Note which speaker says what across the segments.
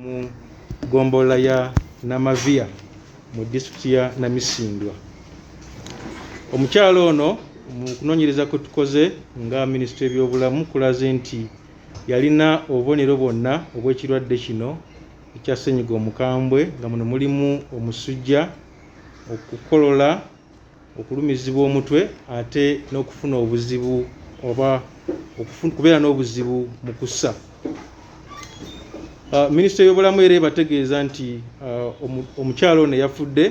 Speaker 1: mu ggombolola ya Namaviya mu disitulikiti ya Namisindwa. Omukyala ono mu kunoonyereza kwe tukoze nga minisitule y'ebyobulamu kulaze nti yalina obubonero bwonna obw'ekirwadde kino ekya ssennyiga omukambwe nga muno mulimu omusujja, okukolola, okulumizibwa omutwe ate n'okufuna obuzibu oba okubeera n'obuzibu mu kussa ah, minisita y'obulamu era ebategeeza nti ah, omukyalo ono yafudde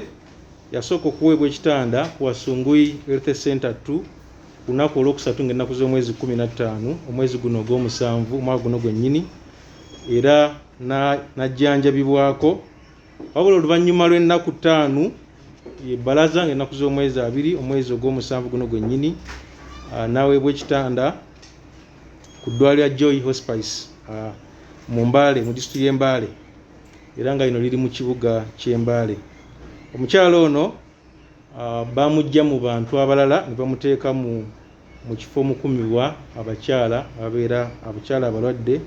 Speaker 1: yasooka okuweebwa ekitanda ku wasunguyi health center t ku lunaku olwokusatu nga ennaku z'omwezi 15 omwezi guno ogw'omusanvu omwaka guno gwennyini era n'ajjanjabibwako na wabula oluvannyuma lw'ennaku ttaanu ebbalaza nga ennaku z'omwezi abiri omwezi ogw'omusanvu guno gwennyini ah, n'aweebwa ekitanda ku ddwali ya joy hospice ah, mu mbaale mu disitulikiti y'embaale era nga lino liri mu kibuga ky'embaale omukyala ono ah, bamujja mu bantu abalala ne bamuteeka mu mu kifo omukumibwa abakyala ababeera abakyala abalwadde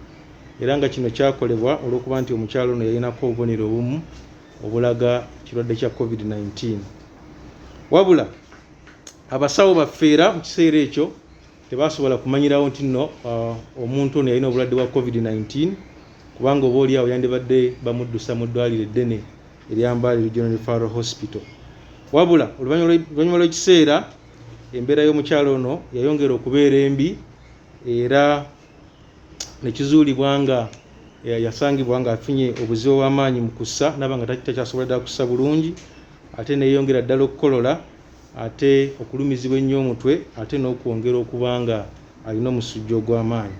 Speaker 1: era nga kino kyakolebwa olw'okuba nti omukyala ono yalinako obubonero obumu obulaga ekirwadde kya covid-19 wabula abasawo baffe era mu kiseera ekyo tebasobola kumanyirawo nti nno uh, omuntu ono yalina obulwadde bwa covid-19 kubanga oba oliawo yandibadde bamuddusa mu ddwaliro eddene eryambaali regional referral hospital wabula oluvannyuma lw'ekiseera embeera y'omukyalo ono yayongera okubeera embi era nekizuulibwa nga eh, yasangibwa nga afunye obuzibu obw'amaanyi mu kussa naba nga takyasobola ddala kussa bulungi ate neyongera ddala okukolola ate okulumizibwa ennyo omutwe ate n'okwongera okuba nga alina omusujja ogw'amaanyi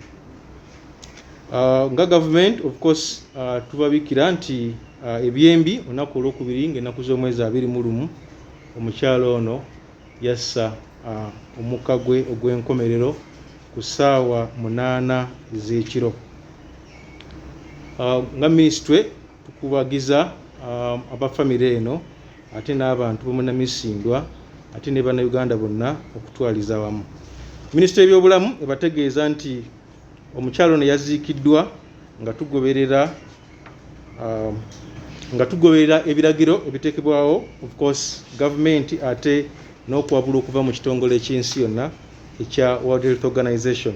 Speaker 1: ah, nga gavument of course ah, tubabikira nti ah, ebyembi olunaku olwokubiri ngaenaku z'omwezi abiri mu lumu Omukyala ono yassa omukka gwe ogw'enkomerero ku ssaawa munaana ez'ekiro. Nga minisitule tukubagiza aba famire eno ate n'abantu bomunamisindwa ate ne bannayuganda bonna okutwaliza awamu. Minisitule y'ebyobulamu ebategeeza nti omukyala ono yaziikiddwa nga tugoberera um, nga tugoberera ebiragiro ebiteekebwawo of course gavumenti ate n'okuwabula okuva mu kitongole eky'ensi yonna ekya world health organization